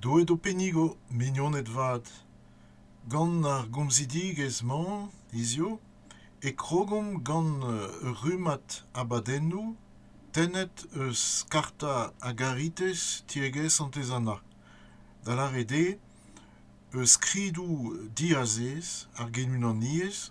Deuet ho pennigo, mignoned vat. Gant ar gomzidigezh-mañ hiziv e krogomp gant ur rummad abadennoù tennet eus Karta a Garites tiegezh Santez-Anna, da lâret eo eus skridoù diazez ar genunaniezh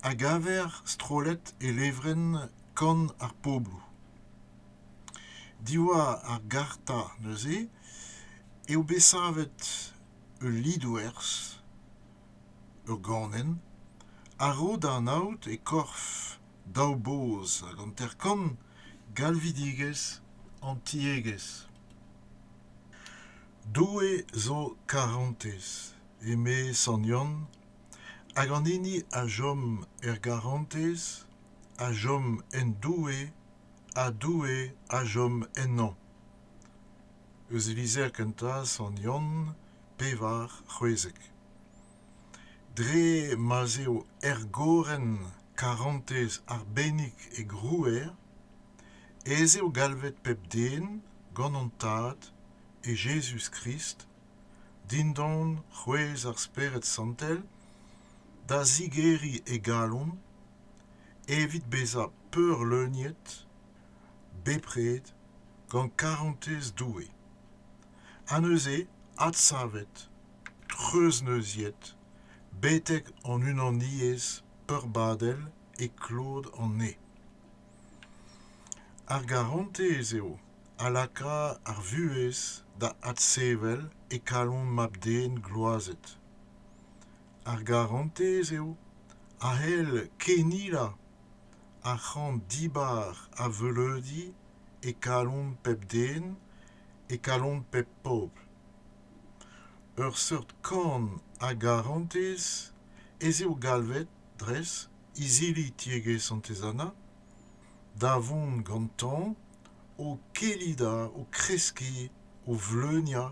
a gaver strollet e levrenn Kan ar Pobloù. Diwar ar garta neuze eo bet savet ul lidoerzh, ur ganenn, a-raok da anaout e korf daou boz hag hanter-kant galvidigezh an tiegezh. Doue zo karantez, eme Sant Yann, hag an hini a chom er garantez a chom en Doue ha Doue a chom ennañ. Eus e lizher kentañ, Sant Yann, pevar c'hwezek. Dre ma'z eo ergorenn karantez arbennik e grouer ez eo galvet pep den gant hon Tad, e Jezuz-Krist, dindan c'hwezh ar Spered Santel da zigeriñ e galon evit bezañ peurleuniet bepred gant karantez Doue ha neuze adsavet treuzneuziet betek hon unaniezh peurbadel e klod an ene ar garantez eo a laka ar vuhez da adsevel e kalon mab-den gloazet ar garantez eo a c'hell kennilañ ar c'hamp dibar a veuleudi e kalon pep den e kalon pep pobl ur seurt kan a garantez ez eo galvet dres izili tiegezh santez-anna da vont gantañ o kellidañ o kreskiñ o vleuniañ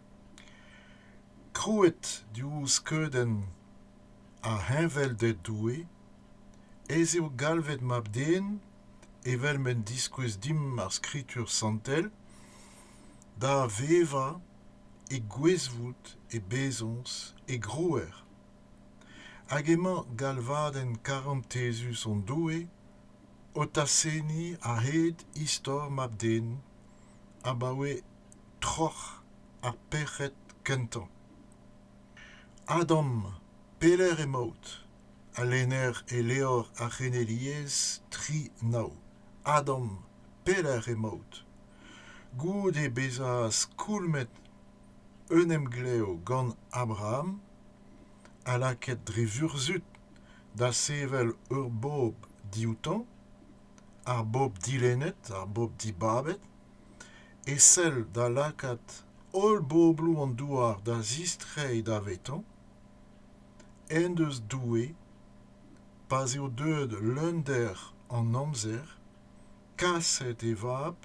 Krouet diouzh skeudenn ar Heñvelded Doue ez eo galvet Mab-Den evel m'en diskouez dimp ar Skritur Santel da vevañ e gwezvoud, e bezañs, e grouer. Hag emañ galvadenn karantezus hon Doue o tasenniñ a-hed istor Mab-Den abaoe troc'h ha pec'hed kentañ. Adam, pelec'h emaout? a lenner e levr ar c'heneliezh tri nav. Adam, pelec'h emaout? Goude bezañ skoulmet un emglev gant Abraham ha lakaet dre vurzhud da sevel ur bobl dioutañ, ar bobl dilennet, ar bobl dibabet, e sell da lakaat holl bobloù an douar da zistreiñ davetañ en deus Doue pa'z eo deuet leunder an amzer kaset e vab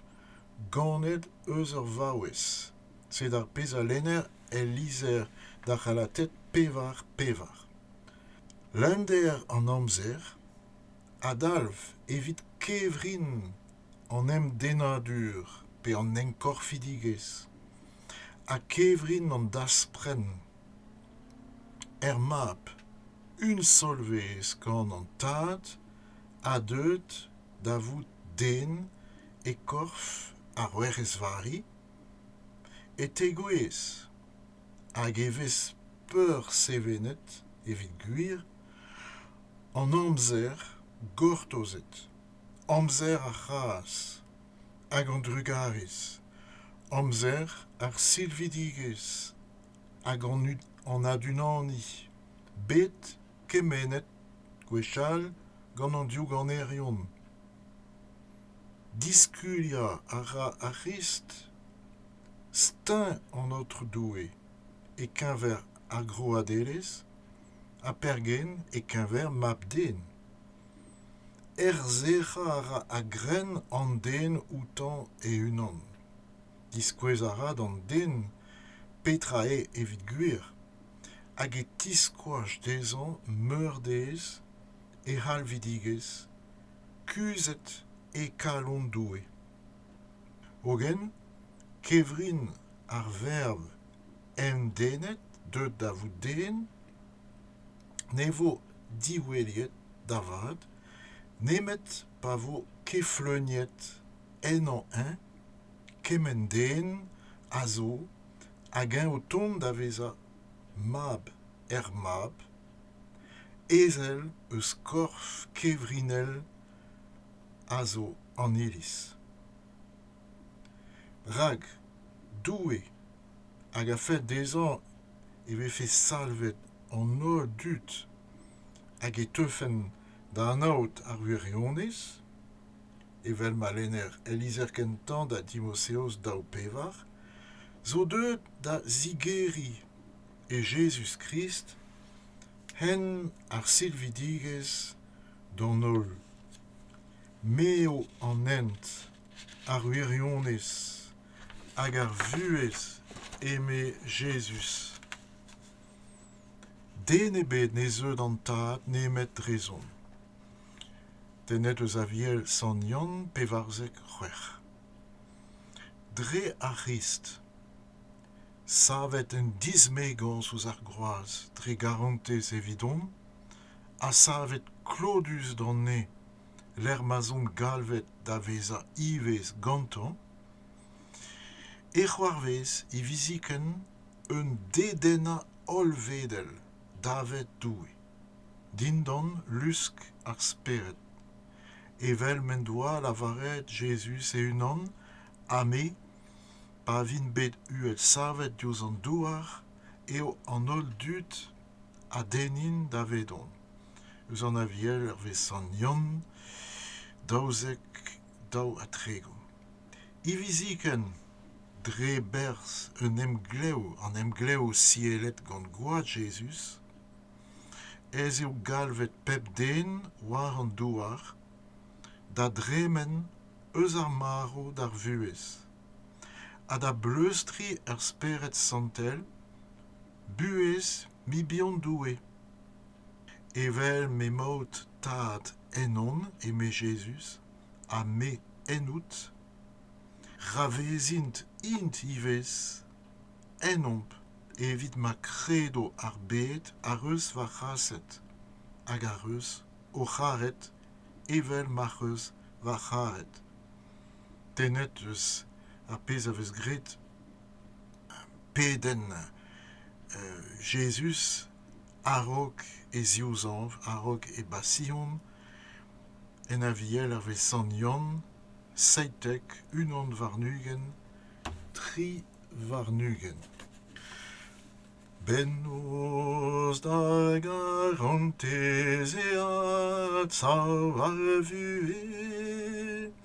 ganet eus ur vaouez sed ar pezh a lenner el lizher d'ar C'halated pevar pevar leunder an amzer a dalv evit kevrin an emdennadur pe an enkorfidigezh ha kevrin an daspren er mab unsolvezh gant an tad ha deuet da vout den e korf ar werc'hez Vari e tegouezh hag e vez peursevenet evit gwir an amzer gortozet amzer ar c'hras hag an drugarez amzer ar silvidigezh hag an adunaniñ bet kemennet gwechall gant an diouganerion diskuliañ a ra ar c'hrist steuñv an aotrou doue e-keñver ar groadelezh ha pergen e-keñver mab-den Erzhec'hañ a ra a-grenn an den outañ e-unan. Diskouez a ra d'an den petra eo evit gwir hag e tiskoach dezhañ meurdez e c'halvidigezh kuzhet e kalon Doue. Hogen kevrin ar verb emdennet deuet da vout den ne vo diweliet da vat nemet pa vo kefleuniet ennañ-eñ kement den a zo hag-eñ o tont da vezañ mab er mab ezel eus korf kevrinel a zo an iliz rak doue hag a-fed dezhañ e vefe salvet an holl dud hag e teufent da anaout ar wirionez evel ma lenner el lizher kentañ da dimoseos daou pevar zo deuet da zigeriñ e Jezuz-Krist hen ar silvidigezh d'an holl m'eo an hent ar wirionez hag ar vuhez, eme Jezuz. Den ebet ne zeu d'an Tad nemet drezon. Tennet eus Aviel Sant Yann pevarzek c'hwec'h. Dre ar C'hrist, savet en dismegañs ouzh ar groaz dre garantez evidomp, ha savet klodus d'an ne lec'h ma'z omp galvet da vezañ ivez gantañ, e c'hoarvez hiviziken un dedennañ hollvedel davet Doue, dindan lusk ar Spered, evel m'en doa lavaret Jezuz e-unan, ha me, pa vin bet uhelsavet diouzh an douar, eo an holl dud a dennin davedon. eus an Aviel hervez sant Yann daouzek daou ha tregont. Hiviziken, dre berzh un emglev, an emglev siellet gant Gwad Jezuz, ez eo galvet pep den war an douar da dremen eus ar marv d'ar vuhez ha da bleustriñ er Spered Santel buhez Mibion Doue! Evel m'emaout, Tad, ennon, eme Jezuz, ha me ennout, ra vezint int ivez ennomp evit ma kredo ar bed ac'h eus va c'haset hag ac'h eus ho c'haret evel m'ac'h eus va c'haret. Tennet eus ar pezh a vez graet pedenn Jezuz a-raok e ziwzañv, a-raok e basion, en Aviel hervez sant Yann, seitek, unan warn-ugent, tri warn-ugent. Bennozh da garantez eat sav a vuhez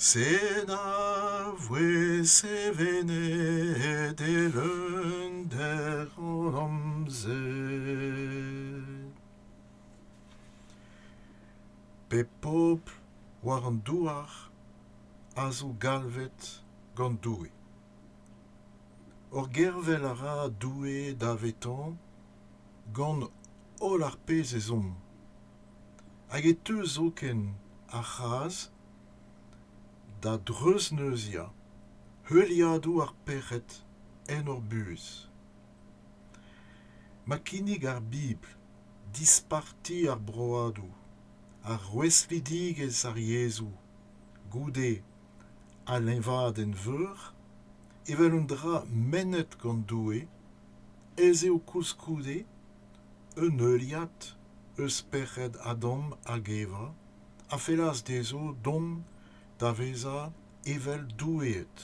Sed a voe sevenet eeunder an amzer. Pep pobl war an douar a zo galvet gant Doue. Hor gervel a ra Doue davetañ gant holl ar pezh ezhomm, hag e teu zoken ar c'hazh da dreuzneuziañ heuliadoù ar pec'hed en hor buhez ma kinnig ar bibl disparti ar broadoù ar rouestlidigezh ar yezhoù goude al leñvadenn veur evel un dra mennet gant doue ez eo koulskoude un heuliad eus spered Adam hag Eva, a fellas dezho dont da vezañ evel doueed.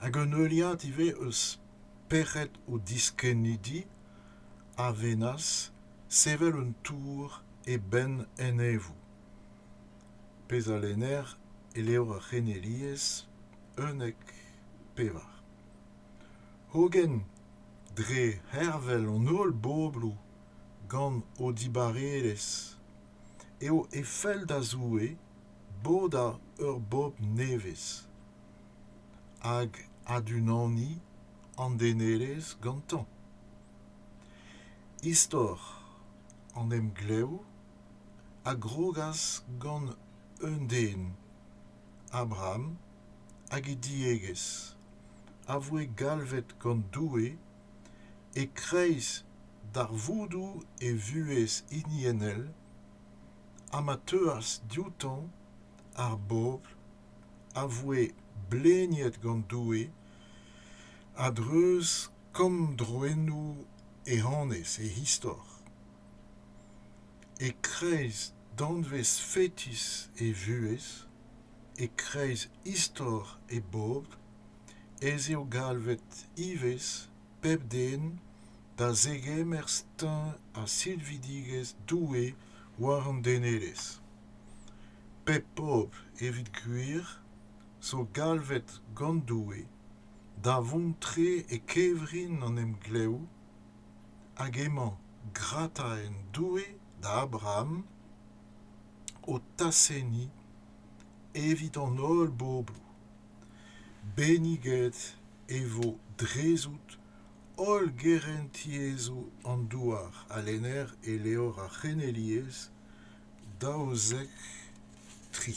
Hag un heuliad ivez eus spered o diskennidi a vennas sevel un tour e benn enevoù, pezh a lenner e levr ar c'heneliezh unnek pevar. Hogen dre hervel an holl bobloù gant o dibarelezh eo e fell da Zoue bodañ ur bobl nevez hag adunaniñ an denelezh gantañ. Istor an emglev a grogas gant un den Abraham hag e diegezh, a voe galvet gant Doue e-kreiz darvoudoù e vuhez hiniennel ha ma teuas dioutañ ar bobl a voe bleniet gant Doue a-dreuz kammdroennoù e annez e istor. E-kreiz danvez fetis e vuhez, e-kreiz istor e bobl ez eo galvet ivez pep den da zegemer steuñv ha silvidigezh Doue war an denelezh. Pep pobl, evit gwir, zo galvet gant Doue da vont tre e kevrin an emglev Hag emañ grataenn Doue da Abraham o tasenniñ evit an holl bobloù. Benniget e vo drezout holl gerentiezhoù an douar, a lenner e levr ar c'heneliezh daouzek tri.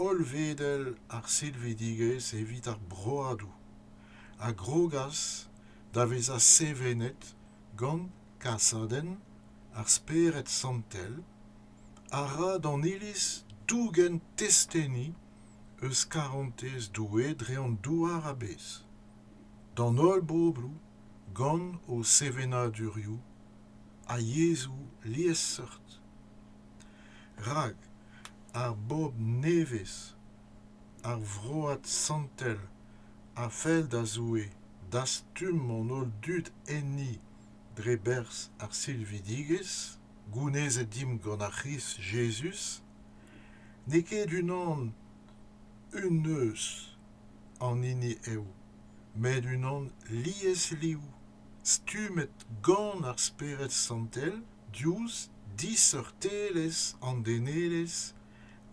hollvedel ar silvidigezh evit ar broadoù a grogas da vezañ sevenet gant kasadenn ar Spered Santel a ra d'an Iliz dougen testeni eus karantez Doue dre an douar a-bezh d'an holl bobloù gant o sevenadurioù ha yezhoù liesseurt. rak ar bobl nevez, ar vroad santel a fell da Zoue dastum an holl dud enni dre berzh ar silvidigezh gounezet dimp gant ar C'hrist Jezuz, n'eo ket unan un eus an hini eo, met unan liesliv, stummet gant ar Spered Santel diouzh diseurtelezh an denelezh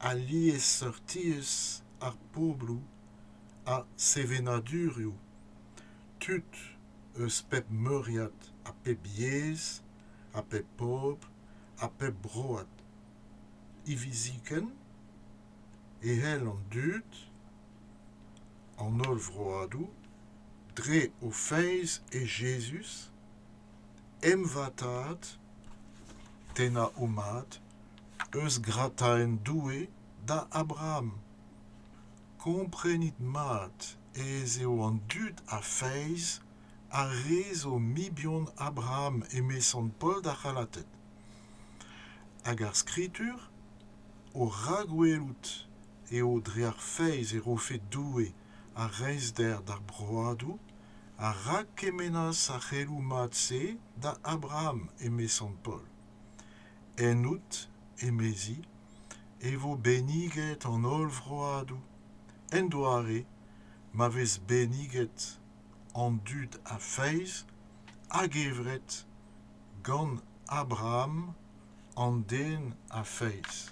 ha liesseurtiezh ar pobloù ha sevenadurioù tud eus pep meuriad ha pep yezh ha pep pobl ha pep broad hiviziken e c'hell an dud an holl vroadoù dre o feiz e Jezuz emvatad, tennañ ho mad, eus grataenn Doue da Abraham. Komprenit mat ez eo an dud a feiz ar re zo mibion Abraham, emeson Paol d'ar C'halated. Hag ar Skritur, o rakwelout eo dre ar feiz e rofe Doue ar reizhder d'ar broadoù a rakkemennas ar c'heloù mat-se da Abraham eme sant Paol. Ennout, emezi, e vo benniget an holl vroadoù, en doare ma vez benniget an dud a feiz a-gevret gant Abraham, an den a feiz.